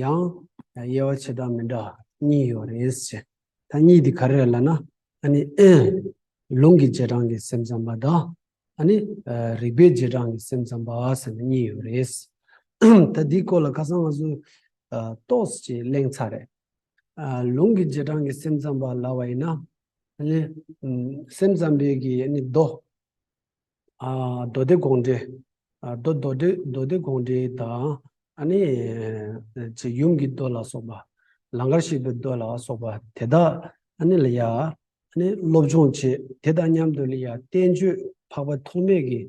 ཡང་དབྱེ་བ་ཆེ་གྲང་མི་འདྲ་གཉིས་ཡོད་རེད་ཟེར། ད་གཉིས་དེ་ག་རེ་རེད་ལ་ན། ཨ་ནི། ལུང་གི་རྗེས་འབྲང་གི་སེམས་ཙམ་པ་དང། ཨ་ནི། རིག་པའི་རྗེས་འབྲང་གི་སེམས་ཙམ་པ་ཟེར་ན་གཉིས་ཡོད་རེད། ད་འདིའི་སྐོར་ལ་ཁ་སང་ང་ཚོས། རྟོགས་ཀྱིས་གླེང་ཚར་རེད། ལུང་གི་རྗེས་འབྲང་གི་སེམས་ཙམ་པ་ལ་བ་ཡིན་ན། ཨ་ནི། སེམས་ཙམ་པའི་གི་ཨ་ནི་རྡོ། མདོ་སྡེ་དགོངས་འགྲེལ། མདོ་མདོ་སྡེ་མདོ་སྡེ་དགོངས་འགྲེལ་དང། ཨ་ནི། ཚེ་ཡུམ་གྱི་མདོ་ལ་སོགས་པ། ལང་ཀར་ཤེས་པའི་མདོ་ལ་སོགས་པ་དེ་དག་ཨ་ནི་ལ་ཡ། ཨ་ནི་སློབ་སྦྱོང་བྱེད་དེ་དང་མཉམ་དུ་ལ་ཡ་བསྟན་བཅོས་འཕགས་པ་ཐོགས་མེད་ཀྱི།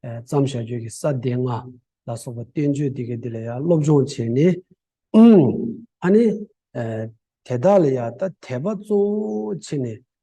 བརྩམས་བྱ་ཆོས་ཀྱི་ས་སྡེ་ལྔ་ལ་སོགས་པ་བསྟན་བཅོས་དེ་གའི་དེ་ལ་ཡ་སློབ་སྦྱོང་བྱས་ནས། ཨ་ནི། དེ་དག་ལ་ཡ་ད་དད་པ་གཙོ་བོ་བྱས་ནས་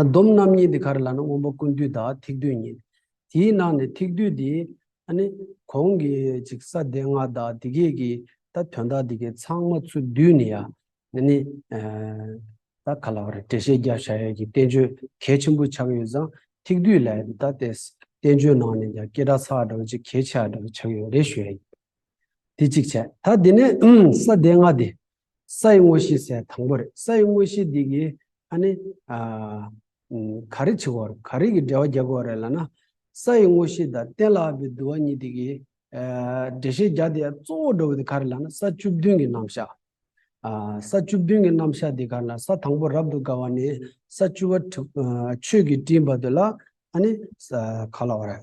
སྡོམ་རྣམ་གཉིས་འདི་ག་རེ་ལགས་ན་སྔོན་པོ་ཀུན་བཏུས་དང་ཐིག་བཏུས་གཉིས། དེའི་ནང་ནས་ཐིག་བཏུས་འདི་ནི་གོང་གི་ཅིག་ས་སྡེ་ལྔ་དག་འདི་གས་ཀྱི་ད་དོན་དག་འདི་གས་ཚང་མ་ཚུར་བསྡུས་ནས་ཡང་ནི་ད་ག་ལ་བ་རེ་འགྲེལ་བཤད་རྒྱབ་བྱ་ཡས་ཀྱི་བསྟན་བཅོས་གལ་ཆེན་པོ་ཆགས་ཡོད་ཙང་ཐིག་བཏུས་ལས་འདི་ད་ལྟའི་བསྟན་བཅོས་ནང་ནས་ཀྱང་སྐད་གྲགས་ཚ་བ་འདྲ་བོ་ཅིག་གལ་ཆེ་བ་འདྲ་བོ་ཆགས་ཡོད་རེ་ཞུ་ཡས་ཡིན། དེ་གཅིག་བྱས་ད་འདི་ནས་ས་སྡེ་ལྔ་འདི་སའི་དངོས་གཞི་ཟད་དང་པོ་རེད། སའི་དངོས་གཞི་འདི་གིས་ཨ་ནི། ག་རེ་བྱེད་དགོས། ག་རེ་གི་འགྲེལ་བ་རྒྱག་དགོས་རེད་ལ་ན། སའི་དངོས་གཞི་དང་གཏན་ལ་ཕབ་པའི་བསྡུ་བ་གཉིས་དེ་གི། འགྲེལ་བཤད་རྒྱག་དེ་གཙོ་བོ་འགྲོ་བ་དེ་ག་རེ་ལ་ན་ས་བཅུ་བདུན་གི་རྣམ་གཞག། ས་བཅུ་བདུན་གི་རྣམ་གཞག་དེ་ག་རེ་ལ་ས་དང་པོ་རབ་ཏུ་དགའ་བ་ནས་ས་བཅུ་བ་དྲུག་ཆོས་ཀྱི་སྤྲིན་བར་དུ་ལ་ཨ་ནི། ག་ལ་བ་རེད།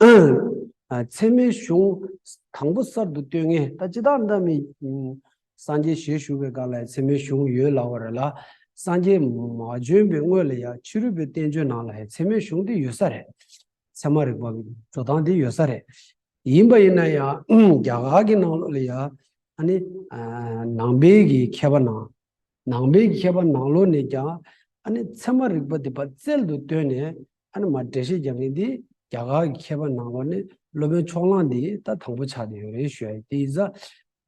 ཚད་མའི་གཞུང་དང་པོ་གསར་དུ་བཏོད་ངེས་ད་ཅི་དག་འདྲ་མི། སངས་རྒྱས་ཞལ་བཞུགས་པའི་སྐབས་ལ་ཡང་ཚད་མའི་གཞུང་ཡོད་ལ་བར་ལ། སངས་རྒྱས་མ་བྱོན་པའི་སྔོན་ལ་ཡང་ཕྱི་རོལ་པའི་བསྟན་བཅོས་ནང་ལ་ཡང་ཚད་མའི་གཞུང་དེ་ཡོད་ས་རེད། ཚད་མ་རིག་པ་གི་འགྲོ་སྟངས་དེ་ཡོད་ས་རེད། ཡིན་པ་ཡིན་ན་ཡང་རྒྱ་གར་གྱི་ནང་ལོགས་ལ་ཡང་ཨ་ནི། ནང་པའི་གི་མཁས་པ་ནང་ནང་པའི་མཁས་པ་ནང་ལོག་ནས་ཀྱང་ཨ་ནི་ཚད་མ་རིག་པ་འདི་བར་རྩལ་དུ་བཏོན་ནས་ཨ་ནི་མ་འགྲེལ་བཤད་རྒྱག་མཁན་དེ་རྒྱ་གར་གྱི་མཁས་པ་ནང་ལོག་ནས་སློབ་དཔོན་ཕྱོགས་གླང་འདི་ད་དང་པོ་ཆགས་ཏེ་ཡོད་རེད་ཞུ་ཡ་དེ་ཡི་ས།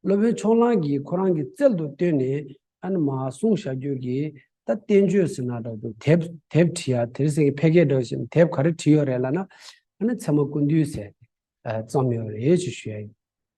སློབ་དཔོན་ཕྱོགས་གླང་གིས་ཁོ་རང་གི་རྩལ་དུ་བཏོན་ནས་ཨ་ནི་མ་གསུང་བྱ་རྒྱུ་གི་ད་བསྟན་བཅོས་ཟེར་ན་འདྲ་འདུག་དེབ་དེབ་བྲིས་ཡ་དེར་ཟེར་གི་ཕལ་སྐད་འདྲ་བཞིན་དེབ་ག་རེ་བྲིས་ཡོད་རེད་ལ་ན་ཨ་ནི་ཚད་མ་ཀུན་འདུས་ཟེར་ཙམ་ཡོད་རེད་ཅེས་ཞུ་ཡ་ཡིན།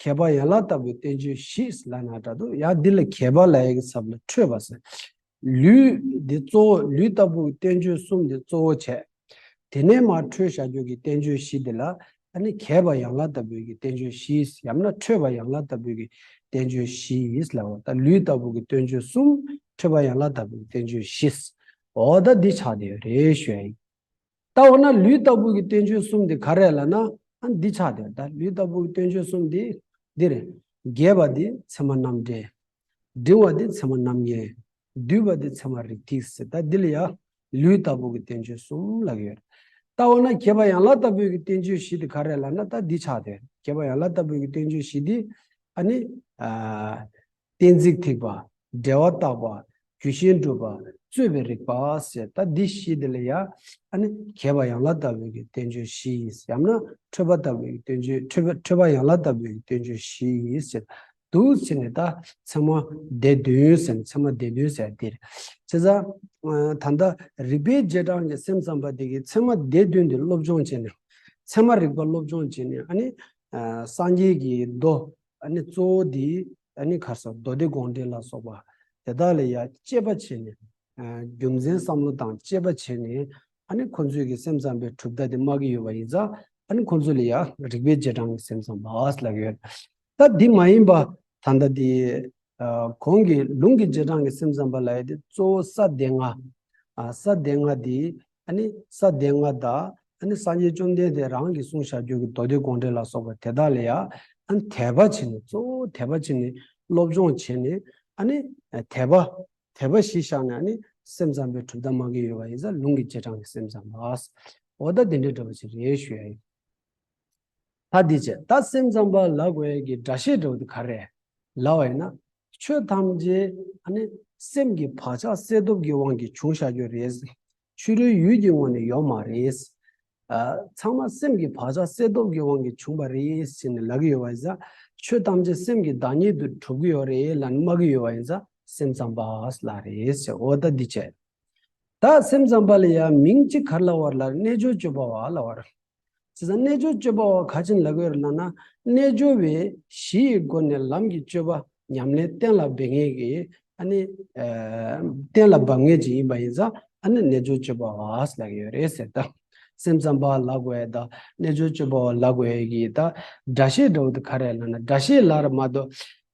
ཁྱད་པར་ཡན་ལག་ལྟ་བུའི་བསྟན་བཅོས་བཞི་ལ་ན་སྒྲ་དང་ཡང་འདི་ལ་ཁྱད་པར་ལ་ཡི་གེ་ཚབ་ལ་འཕྲོས་པ་ཟེར། ལུས་འདི་གཙོ་བོ་ལུས་ལྟ་བུའི་བསྟན་བཅོས་གསུམ་འདི་གཙོ་བོ་བྱས། དེ་ནས་མར་འཕྲོས་ཞར་བསྐྱོད་ཀྱི་བསྟན་བཅོས་བཞི་འདི་ལ་ནི་ཁྱད་པར་ཡན་ལག་ལྟ་བུའི་ཀྱི་བསྟན་བཅོས་བཞི་ཡང་ན་འཕྲོས་པ་ཡན་ལག་ལྟ་བུའི་ཀྱི་བསྟན་བཅོས་བཞི་ལ་འོ་ད་ལུས་ལྟ་བུ་ཀྱི་བསྟོན་བཅོས་གསུམ་འཕྲོས་པ་ཡན་ལག་ལྟ་བུའི་བསྟན་བཅོས་བཞི་འོ་ད་འདི་ཆགས་དེ་རེ་ཞོལ་ཡིན། ལྟ་བ་ན་ལུས་ལྟ་བུ་གི་སྟོན་ཆོས་གསུམ་དེ་ག་རེ་ལ་ན། འདི་ཆགས་དེ་ལྟ་ལུས་ལྟ་བུ་གི་སྟོན་ཆོས་གསུམ་དེ་འདིར། རྒས་པ་དེ་མཚན་མ་རྣམ་འགྲེལ། འབྲིང་བ་དེ་མཚན་མ་རྣམ་ངེས། སྡུད་པ་དེ་མཚན་མ་རིགས་ཐིག་ཟེར་ལྟ་འདི་ལ་ཡང་ལུས་ལྟ་བུ་གི་སྟོན་ཆོས་གསུམ་ལགས་ཡོད། ལྟ་བ་ན་རྒས་པ་ཡང་ལ་ལྟ་བུ་གི་སྟོན་ཆོས་བཞི་དེ་ག་རེ་ལ་ན་ལྟ་འདི་ཆགས་དེ་རྒས་པ་ཡང་ལ་ལྟ་བུ་གི་སྟོན་ཆོས་བཞི་དེ། གཏན་ཚིགས་ཐིགས་པ། འབྲེལ་བ་བརྟགས་པ། རྒྱུ་ཤེས་འགྲུབ་པ། རྩོད་པའི་རིགས་པ། ཟེར་ད་འདི་བཞི་འདི་ལ་ཡང། གྱེས་པ་ཡང་ལ་ལྟ་བུའི་གི་བསྟན་བཅོས་བཞི་ཡིས་ཡང་ན་འཕྲོས་པ་ལྟ་བུའི་གི་བསྟན་བཅོས་འཕྲོས་པ་ཡང་ལ་ལྟ་བུའི་གི་བསྟན་བཅོས་བཞི་ཡིས་ཟེར་དུ་ཚིག་ནི་ད་ཚེ་མ་སྡེ་བདུན་ཟེར་ནས་ཚེ་མ་སྡེ་བདུན་ཟེར་འདིར་ཚེ་ཚ། ད་ལྟ་རིགས་པའི་རྗེས་འབྲང་གི་སེམས་ཙམ་པ་དེ་གིས་ཚེ་མ་སྡེ་བདུན་འདི་སློབ་སྦྱོང་བྱས་ནས། ཚད་མ་རིག་པ་སློབ་སྦྱོང་བྱས་ནས་ཨ་ནི། སངས་རྒྱས་ཀྱི་མདོ་ཨ་ནི་གཙོ་བོ་དེ་ཨ་ནི་གར་སོགས་མདོ་སྡེ་དགོངས་འགྲེལ་ལ་སོགས་པ་དེ་དག་ལ་ཡང་དཔྱད་པ་བྱས་ནས། རྒྱུ་མཚན་བསམ་བློ་དང་དཔྱད་པ་བྱས་ནས་ཨ་ནི་ཁོ་ཚོས་ཀྱི་སེམས་ཙམ་པའི་གྲུབ་མཐའ་དེ་སྨྲ་གི་ཡོད་པ་ཡིན་ཙང་ཨ་ནི་ཁོ་ཚོ་ལ་ཡང་རིགས་པའི་རྗེས་འབྲང་གི་སེམས་ཙམ་པའོ་ལབ་ཡོད། ད་དེ་མ་ཡིན་པ་ད་ལྟ་དེ་གོང་གི་ལུང་གི་རྗེས་འབྲང་གི་སེམས་ཙམ་པ་ལ་ཡོད་དེ་གཙོ་བོ་ས་སྡེ་ལྔ། ས་སྡེ་ལྔ་དེ་ནི་ས་སྡེ་ལྔ་དག། ནི་སངས་རྒྱས་བཅོམ་ལྡན་འདས་རང་གིས་གསུང་བྱ་རྒྱུད་ཀྱི་མདོ་སྡེ་དགོངས་འགྲེལ་ལ་སོགས་པ་དེ་དག་ལ་ཡང། དད་པ་བྱས་ནས་གཙོ་བོ་དད་པ་བྱས་ནས་སློབ་སྦྱོང་བྱས་ནས། ནི་དད་པ། དད་པ་བཞི་བཞག་ནས་ནི་སེམས་ཙམ་པའི་གྲུབ་མཐའ་མ་གི་ཡོད་པ་ཡིན་ས་ལུང་གི་བྱེ་བྲག་ནི་སེམས་ཙམ་པ། འོ་ད་དེ་འདྲའི་འདྲ་བ་ཅི་རེད་ཞུ་ཡ་ཡིན། ལྷ་འདི་ཅི་ད་སེམས་ཙམ་པ་ལ་གོ་ཡས་ཀྱི་སྒྲ་ཤེས་འགྲོ་འདི་ག་རེད། ལ་བ་ཡིན་ན། ཆོས་ཐམས་ཅད་ཨ་ནི། སེམས་ཀྱི་བག་ཆགས་གསལ་སྟོབས་ཀྱི་དབང་གིས་བྱུང་བཞག་རྒྱུ་རེད། ཕྱི་རོལ་ཡུལ་གྱི་ངོ་ནས་ཡོད་མ་རེད། ཚང་མ་སེམས་ཀྱི་བག་ཆགས་གསལ་སྟོབས་ཀྱི་དབང་གིས་བྱུང་བ་རེད་ཟེར་ནས་ལབ་ཀྱི་ཡོད་བ་ཡིན་ས། ཆོས་ཐམས་ཅད་སེམས་ཀྱི་བདག་ཉིད་དུ་གྲུབ་ཀྱི་ཡོད་རེད་ལ་ནི་སྨྲ་གི་ཡོད་བ་ཡིན་ས་སེམས་ཙམ་པ་ལ་རེད་ཟེར་འོ་ད་འདི་ཅི། དག་སེམས་ཙམ་པ་ལ་ཡང་མིང་གཅིག་གར་ལ་བར་ལ་རྣལ་འབྱོར་སྤྱོད་པ་བ་ལ་བར། དེ་དང་རྣལ་འབྱོར་སྤྱོད་པ་བ་ག་ཅན་ལ་བར་ལ་ན་རྣལ་འབྱོར་བས་གཞི་ཡི་སྒོ་ནས་ལམ་གྱི་སྤྱོད་པ་ཉམས་ལེན་གཏན་ལ་འབེབས་ངེས་ཀྱི་ཨ་ནི། གཏན་ལ་འབབ་ངེས་ཀྱི་ཡིན་པ་ཡིན་ཙང་ཨ་ནི་རྣལ་འབྱོར་སྤྱོད་པ་བ་ལ་གི་ཡོད་རེད་ཟེར་ད་སེམས་ཙམ་པ་ལ་བར་ད་རྣལ་འབྱོར་སྤྱོད་པ་བ་ལ་བར་གྱི་ད་སྒྲ་བཤད་འགྲོ་བ་དེ་ག་རེ་ལ་ན་སྒྲ་བཤད་ལ་ར་མ་ཏོ།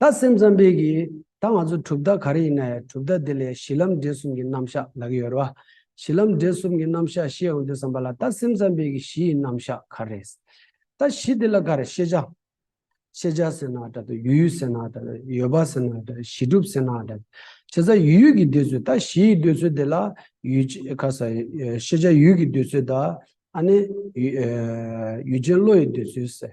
ད་སེམས་ཙམ་པས་ཀྱི་ད་ང་ཚོ་གྲུབ་མཐའ་ག་རེ་ཡིན་ན་ཡང་གྲུབ་མཐའ་དེ་ལས་གཞི་ལམ་འབྲས་གསུམ་གྱི་རྣམ་གཞག་ལག་ཡོད་རེད་བ། གཞི་ལམ་འབྲས་གསུམ་གྱི་རྣམ་གཞག་ཤེས་ཡོང་དུས་བསམ་པ་ལ་ད་སེམས་ཙམ་པས་ཀྱི་གཞི་ཡི་རྣམ་གཞག་ག་རེ་རེད། ད་གཞི་དེ་ལ་ག་རེ་ཤེས་བྱ། ཤེས་བྱ་ཟེར་ན་ད་དུ་ཡུལ་ཡུལ་ཟེར་ན་ད་ཡོད་པ་ཟེར་ན་ད་གཞི་གྲུབ་ཟེར་ན་ད་བྱེད་ས་ཡུལ་ཡུལ་གྱི་འདོད་ཚུལ་ད་གཞི་ཡི་འདོད་ཚུལ་དེ་ལ་ཡུལ་ཅེས་ཁ་ས་ཤེས་བྱ་ཡུལ་གྱི་འདོད་ཚུལ་ད་ཨ་ནི་ཡུལ་ཅན་བློ་ཡི་འདོད་ཚུལ་ཟེར།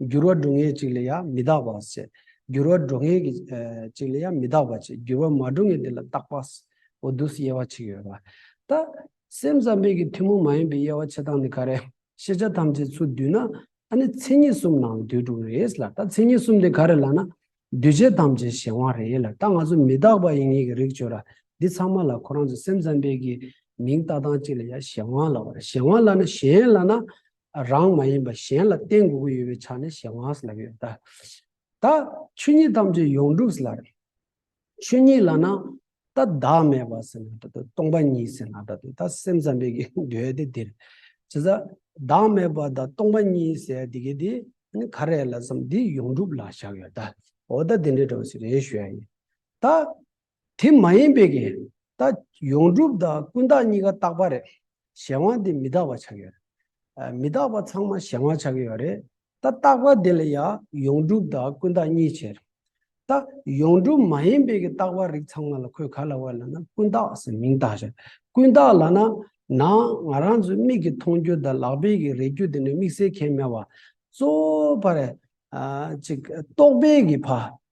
འགྱུར་བ་འགྲོ་ངེས་ཅིག་ལ་ཡང་མི་བདག་པ་ཟད། འགྱུར་བ་འགྲོ་ངེས་ཀྱི་ཅིག་ལ་ཡང་མི་བདག་པ་ཆེ། འགྱུར་བ་མ་འགྲོ་ངེས་དེ་ལ་བདག་པ་ཟད། འོ་དུས་དབྱེ་བ་ཅིག་ཡོད་པ། ད། སེམས་ཙམ་པས་ཀྱི་ཐུན་མོང་མ་ཡིན་པའི་དབྱེ་བ་ཕྱེ་སྟངས་ནི་ག་རེ། ཤེས་བྱ་ཐམས་ཅད་ཚུར་བསྡུས་ན། ད་ནི་མཚན་ཉིད་གསུམ་ནང་དུས་དྲུག་རེད་ལ་ད་མཚན་ཉིད་གསུམ་དེ་ག་རེ་ལགས་ན། འདུས་བྱས་ཐམས་ཅད་གཞན་དབང་རེད་ལ་ད་ང་ཚོ་མི་བདག་པ་ཡིན་ངེས་ཀྱི་རིགས་བྱོས་ར། འདི་ཚང་མ་ལ་ཁོ་རང་ཚོས་སེམས་ཙམ་པས་ཀྱི་མིང་བཏགས་སྟངས་ཅིག་ལ་ཡང་གཞན་དབང་ལ་བ་ར་གཞན་དབང་ལགས་ན་གཞན་ལགས་ན། རང་མ་ཡིན་པ་གཞན་ལ་བསྟན་དགོས་ཀྱི་ཡོད་པའི་ཆ་ནས་གཞན་དབང་སླེབས་ཡོད་ད། ད་ཆོས་ཉིད་ཐམས་ཅད་ཡོངས་གྲུབ་སླ་རེད། ཆོས་ཉིད་ལ་ན་ད་བདག་མེད་པ་ཟེར་ན་ད་དུ་སྟོང་པ་ཉིད་ཟེར་ན་ད་དུ་ད་སེམས་ཙམ་པའི་གི་འདོད་དེ་དེར་ཇི་ཟ། བདག་མེད་པ་ད་སྟོང་པ་ཉིད་ཟེར་དེ་གི་དེ་ནི་ག་རེད་ལ་བསམ་དེ་ཡོངས་གྲུབ་ལ་བཞག་ཡོད་ད། འོ་ད་དེ་འདྲའི་དྲོ་ཞིག་རེད་ཞུ་ཡ་ཡིན། ད། དེ་མ་ཡིན་པའི་གིས་ད་ཡོངས་གྲུབ་དང་ཀུན་བརྟགས་གཉིས་ཀ་རྟག་པ་རེད། གཞན་དབང་དེ་མི་རྟག་པ་ཆགས་ཡོད་རེད། མི་རྟག་པ་ཚང་མ་གཞན་དབང་ཆགས་ཀྱི་ཡོད་རེད། ད་རྟག་པ་དེ་ལ་ཡང་ཡོངས་གྲུབ་དང་ཀུན་བརྟགས་གཉིས་བྱས་རེད། ད་ཡོངས་གྲུབ་མ་ཡིན་པའི་གི་རྟག་པ་རིགས་ཚང་མ་ལ་ཁོས་ག་ལ་བས་ལ་ན་ཀུན་བརྟགས་ཟེར་མིང་བཏགས་བྱས། ཀུན་བརྟགས་ལ་ན་ན་ང་རང་ཚོའི་མིག་གི་མཐོང་རྒྱུ་དང་ལག་པའི་གི་རེག་རྒྱུ་དེ་ནི་དམིགས་བསལ་ཁྱད་མེད་བ། གཙོ་བོ་བར། ཅིག་རྟོག་པའི་གི་བར